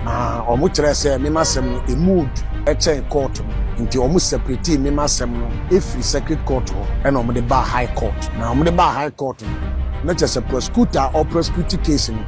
Na wɔn kyerɛɛ sɛ me m'asɛm no ɛmuu du kyɛn kɔɔto no, nti wɔn sɛpretee me m'asɛm no firi sɛkret kɔɔto hɔ ɛna wɔn de baa hai kɔɔto. Na wɔn de baa hai kɔɔto no, na kyerɛ sɛ prɔsekuta a ɔreprɔsekuti keesi no,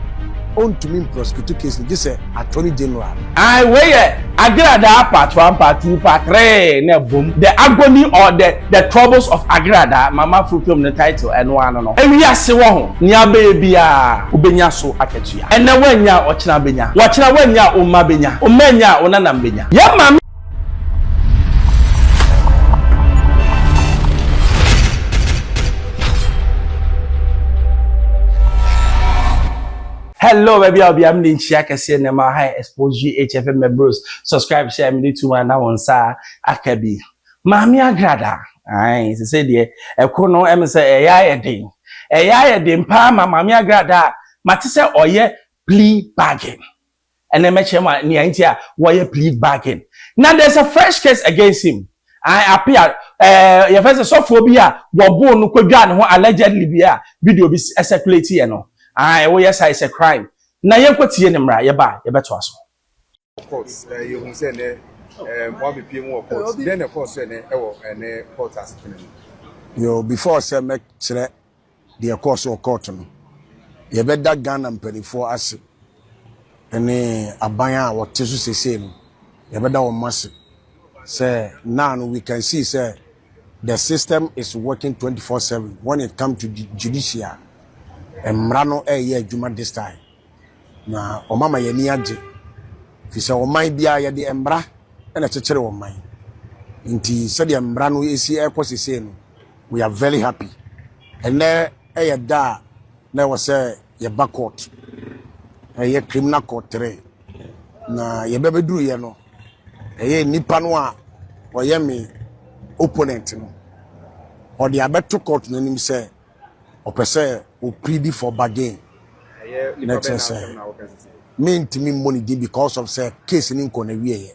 ɔntumi mprɔsekutu keesi no gye sɛ atɔni gyeneral no. Ae, wei yɛ Agradaa part one, part two, part three na ɛbom, The Agony or the the Troubles of Agradaa, Mama Frotom ne title ɛno ara no no. Wiase wɔ ho, nea bɛyɛ biara wobɛnya so akatua. tua. Ɛnnɛ woannya a ɔkyena bɛnya. Ɔkyena woannya a womma bɛnya. Womma annya a wo nanam bɛnya. Yɛn maame. Hello, baby, I'll be a mini chia kasi and my high expose GHF members. Subscribe, share, mini tuma na wonsa akabi. Maame Agrada, Ae, sesei deɛ ɛko no ɛme sɛ ɛyɛ ayɛ den. Ɛyɛ ayɛ den paa ma Maame Agrada a mate sɛ ɔyɛ plea bargain. Ɛnɛ mɛkyerɛ mo nea nti a wɔyɛ plea bargain. Na there's a fresh case against him. Ae, appear, ɛɛ, yɛfrɛ sɛ sɔfoɔ bi a wɔboo no kɔdwaa ne ho allegedly bi a video bi circulate yɛ no. Ae, woyɛ saa a it's a crime. Na yɛnkɔtie ne mmra, yɛba a yɛbɛtoa so. court eh, yɛhu sɛ ɛnɛ eh, wɔabepie mu wɔ court dɛn na ɛkɔɔ so ɛnɛ ɛwɔ ɛnɛ court asetena mu yo before sɛ mɛkyerɛ deɛ ɛkɔɔ so wɔ court no yɛbɛda ghana mpanimfoɔ ase ne aban a wɔte so sesei no yɛbɛda wɔn ase sɛ now no we can see sɛ the system is working 24/7 when it come to judicial mmara no ɛreyɛ adwuma this time na wɔn ama yɛn ani agye. Ɛfiri sɛ ɔman biara yɛde mmara na ɛkyekyere ɔman. Nti sɛdeɛ mmara no ɛsi ɛrekɔ sesei no, we are very happy. Ɛnɛ ɛyɛ da a na ɛwɔ sɛ yɛba court. Ɛyɛ criminal court tere. Na yɛbɛbɛduru yɛ no, ɛyɛ nipa no a ɔyɛ me opponent no. Ɔde abɛto court no anim sɛ ɔpɛ sɛ o plead for bargain na kyerɛ sɛ mentumi mmɔ ne din because of sɛ case ne nkɔ na wieɛ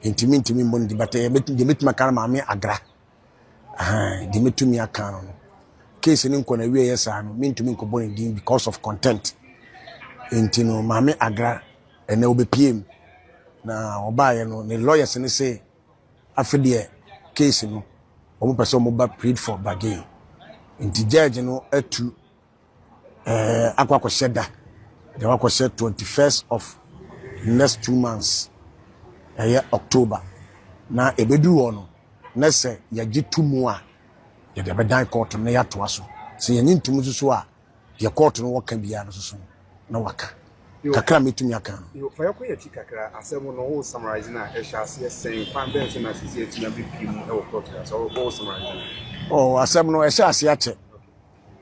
nti mentumi mmɔ ne din but eh, deɛ mɛtumi aka no maame agra deɛ mɛtumi aka no no case ne nkɔ na wieɛ saa no mentumi nkɔbɔ ne din because of content nti no maame agra ɛnɛ wobɛpiem na ɔbaeɛ no ne lawyers ne se Afe deɛ case no wɔn pɛ sɛ wɔn ba plead for bargain nti judge no atu ɛɛ eh, akɔ akɔhyɛ da deɛ wakɔhyɛ twenty first of next two months ɛyɛ october na ebeduru hɔ no na sɛ yɛgye to mu a yɛde bɛdan kɔɔto na yɛatoa so sɛ yɛnye ntum nso so a. Deɛ court no wɔ ka biara no soso na waka. Kakra a mɛtumi aka no. Yo, fa yɛkɔ yɛn akyi kakra. Asɛm no wo summarise no a, ɛhyɛ aseɛ sɛn? Kwan bɛn so na sisi atumi abɛpie mu wɔ court no ase? Wo summarise no. Oh, asɛm no ɛhyɛ aseɛ akyɛ.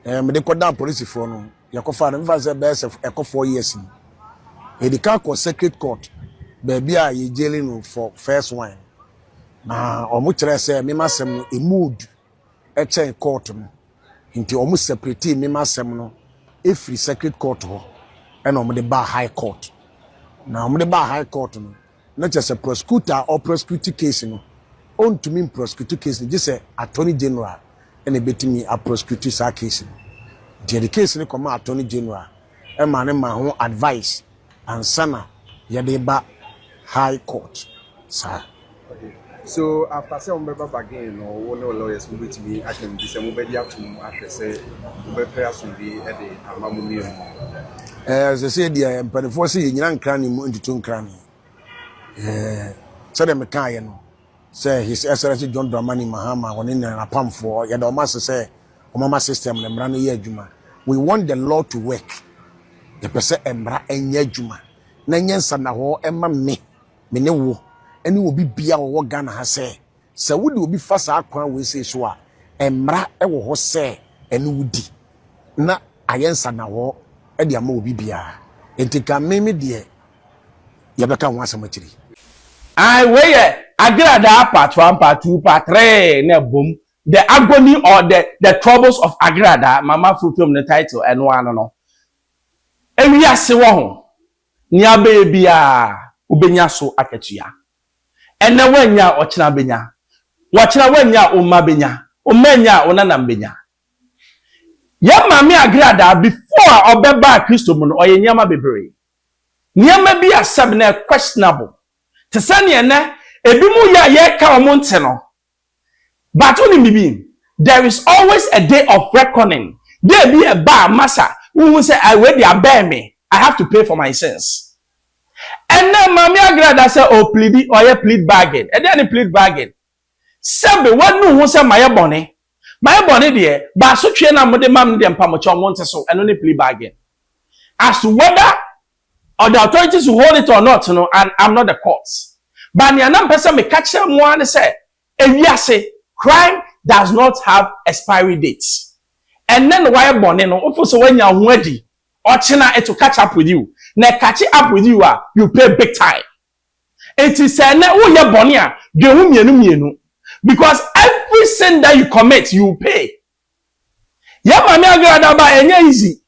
Eh, mede kɔdaa polisifoɔ no, yɛkɔfaa no, mefa sɛ bɛyɛ sɛ ɛkɔ four years ni. Yɛdi kan kɔ circuit court, baabi a yɛ jailing no for first one. Na wɔn kyerɛ sɛ mema asɛm no emu odu. kyɛn court no nti wɔn separate me m'asɛm no efiri circuit court hɔ ɛna wɔn de baa high court na wɔn de baa high court no na kyerɛ sɛ prosecutor a ɔprosecute case no ɔntumi mprosecute case no gye sɛ attorney general ɛna ebetumi aprosecute saa case no nti yɛde case no kɔma attorney general ɛma ne ma ho advice. ansa na yɛde reba high court saa. Okay so after sɛ wɔbɛba bargain no wo ne wo lawyers mo bɛtumi aka mu bi sɛ mobɛgye atom ahwɛ sɛ wobɛpɛ asomdwee de ama mo mmienu mu. Ɛɛ sɛ sɛ deɛ mpanimfoɔ sɛ yɛnyina nkrane mu ntutu nkrane ɛɛ sɛdeɛ mekaeɛ no sɛ His Excellency John Dramani Mahama wɔne ne n'apamfoɔ yɛda wɔn ase sɛ wɔmma system no mmara no yɛ adwuma we want the law to work yɛpɛ sɛ mmara ɛnyɛ adwuma na ɛnyɛ nsannahɔɔ ɛma me me ne wo ɛne obi bia wɔwɔ Ghana ha sɛ sɛ wode obi fa saa kwan wei sei so a mmara ɛwɔ hɔ sɛ ɛne wo di na ayɛ nsannahɔɔ ɛde ama obi biara nti ka me me deɛ yɛbɛka ho asɛm akyiri. Ae wei yɛ Agradaa part one part two part three na ɛbom The Agony or the the Troubles of Agradaa, Mama Frutom ne title, ɛno ara no no. Wiase wɔ ho, nea wobɛyɛ biara wobɛnya so akatua. Ɛnnɛ woannya a, ɔkyena bɛnya. Ɔkyena woannya a, wo mma bɛnya. Wo mma annya a, wo nanam bɛnya. Yɛn Maame Agradaa, before a ɔbɛbaa Kristo mu no, ɔyɛ nneɛma bebree. Nneɛma bi a sɛbe na ɛyɛ questionable, te sɛ nea ɛnnɛ ebinom yɛ a yɛreka wɔn nte no, But wonim biribi? There is always a day of reckoning. Day bi ɛba a masa wohu sɛ ai wei deɛ abɛn me, I have to pay for my sins. Ɛnɛ Maame Agrada sɛ ɔɔplidi, ɔyɛ plead bargain. Ɛdeɛn ne plead bargain? Sɛbe wanu ho sɛ mayɛ bɔne. Mayɛ bɔne deɛ, but asotweɛ no a mode ma me no deɛ mpamokyɛw monte so. Ɛno ne plea bargain. As to whether Or the authorities will hold it or not no and I'm not the court but nea na mpɛ sɛ meka kyerɛ mo ara ne sɛ ewiase crime does not have expiry date ɛnnɛ na wayɛ bɔne no wofo sɛ wanya ho adi ɔkyena it will catch up with you na ɛkakye up with you a you pay big time nti sɛ ɛnnɛ woyɛ bɔne a dwen ho mmienu mmienu because every sin that you commit you pay Yɛ maame adwera da ba ɛnyɛ easy.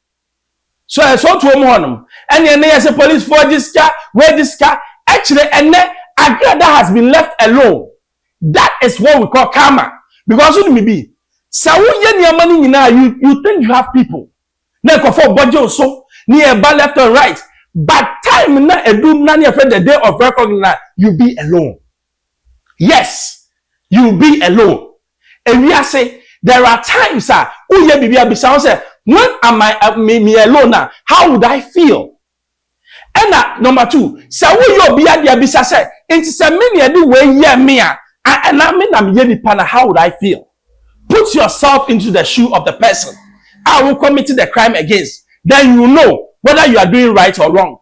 So ɛsɛ otuo mu hɔ nom. Ɛne ɛne yɛse police foɔ gye sika, wei gye sika. Ɛkyerɛ ɛnɛ adwera da has been left alone. That is what we call karma. Because wonim bibi, sɛ wo yɛ nneɛma no nyinaa you you think you have people. Na nkurɔfoɔ bɔ gye wo so, ne ɛba left and right. But time na ɛdu na ne yɛfrɛ the day of recognize you be alone. Yes you be alone ewiase there are times a wo yɛ biribi a bisa ho sɛ when am I me me alone a how would I feel ɛna number two sɛ wo yɛ obi adeɛ a bisa sɛ nti sɛ me na ɛde wei yɛ me a ɛna me na me yɛ nipa na how would I feel put yourself into the shoe of the person a wo commit the crime against then you know whether you are doing right or wrong.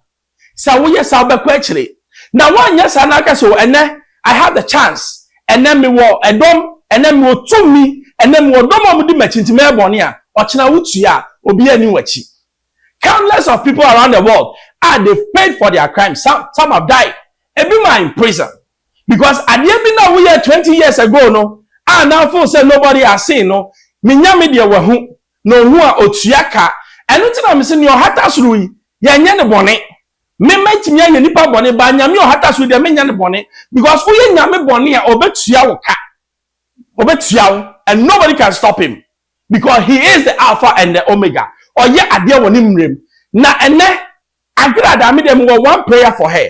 Sɛ woyɛ saa a, wobɛkɔ akyiri. Na woanyɛ saa na aka sɛ, O, ɛnnɛ, I have the chance, ɛnnɛ mewɔ dɔm, ɛnnɛ mewɔ tumi, ɛnnɛ mewɔ dɔm a wɔdi m'akyi nti mɛyɛ bɔne a, ɔkyena wotua a, obiara nni w'akyi. Countless of people around the world a, they've paid for their crimes, some, some have died, ebinom are in prison because adeɛ bi no a woyɛɛ twenty years ago no a na wo feel sɛ nobody has seen no, menya me deɛ wɔahu, na ohu a, otua ka. Ɛno nti na mese, nea ɔhata soro yi, yɛnyɛ no bɔne. Me mɛtumi ayɛ nnipa bɔne, but Nyame a ɔhata soro yi deɛ, menyɛ no bɔne. Because woyɛ Nyame bɔne a, ɔbɛtua wo ka. Ɔbɛtua wo, and nobody can stop him. Because he is the Alpha and the Omega. Ɔyɛ adeɛ wɔ ne mmerɛ mu. Na ɛnnɛ, Agradaa, me deɛ mewɔ one prayer for her,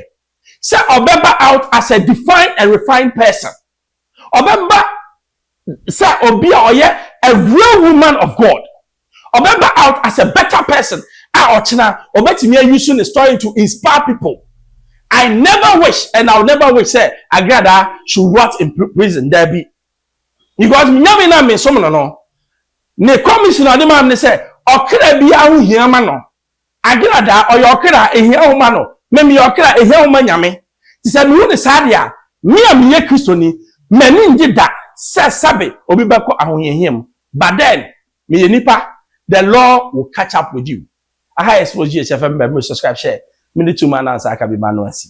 sɛ ɔbɛba out as a defined and refined person. Ɔbɛba sɛ obi a ɔyɛ a real woman of God. Ɔbɛba out as a better person a ɔkyena ɔbɛtumi ayusu ne story to inspire people. I never wish and I will never wish sɛ Agradaa should rot in prison, daabi. Because Nyame no a mesom no no, ne commission a ɔde maa me ne sɛ ɔkra biara ho hia ma no. Agradaa, ɔyɛ ɔkra a ehia wo ma no, me meyɛ ɔkra a ehia wo ma Nyame. Te sɛ mewu no saa de a, me a meyɛ Kristoni, m'ani nnye da sɛ sɛbe obi bɛkɔ ahohiahia mu. But then, meyɛ nipa, the law will catch up with you. Aha yɛ Smosh GH FM bɛ me subscribe share me ne tuma anansa aka bi ma no asi.